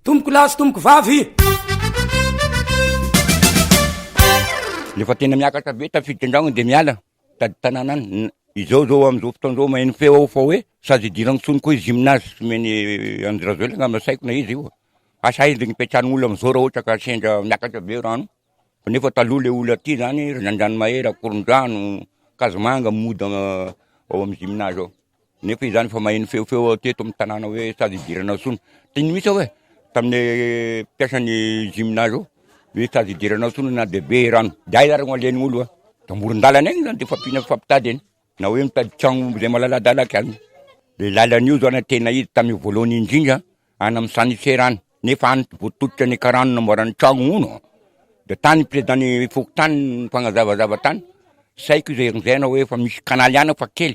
Tompoko lahy sy tompoko vavy. Rehefa tena miakatra be tafiditra an-dragno dia miala tady tanàna any. Izao izao amin'izao fotoana izao maheno feo aho fa hoe sazy hidirany tsony koa i gymnase omeny Andry Rajoelina angamba saiko na izy io. Asa aiza ny hipetrahan'ny olona amin'izao raha ohatra ka sendra miakatra be rano. Fa nefa taloha ilay olona aty izany, Andranomahery, Ankorondrano, Ankazomanga mody ao amin'ny gymnase ao. Nefa izany efa maheno feofeo aho teto amin'ny tanàna hoe sady hidirana intsony. Teny mihitsy aho hoe tamin'ny mpiasan'ny gymnase ao hoe sady hidirana intsony na dia be rano. Dia aiza ary no alehan'ny olona? Dia amoron-dalana eny izany dia efa ampiana mifampitady eny. Na hoe mitady tragno omby izay malaladalaka any. Ilay lalana io izao na tena izy tamin'ny voalohany indrindra any amin'ny Sanisera any, nefa any vao tototry ny karana no namboarana tragno, hono an! Dia tany ny prezidan'ny fokontany no nifanazavazava tany, saiky izay hanjaina hoe efa misy kanaly any fa kely.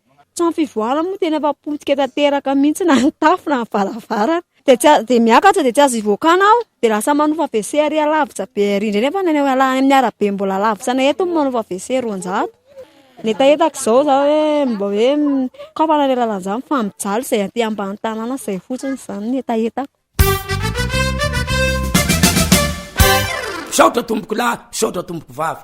Trano fivoahana moa tena efa potika tanteraka mihitsy na ny tafo na ny varavarana. Dia tsy azo, dia miakatra dia tsy azo hivoakana aho dia lasa manofa WC ary alavitra be ary indray nefa ny any amin'ny arabe mbola alavitra anay eto ny manofa WC roanjato. Ny hetahetako izao izaho hoe mba hoe kôa fa nandeha lalan'izany fa mijaly izay aty ambany tanàna izay fotsiny izany ny hetahetako. Misaotra tompokolahy, misaotra tompoko vavy.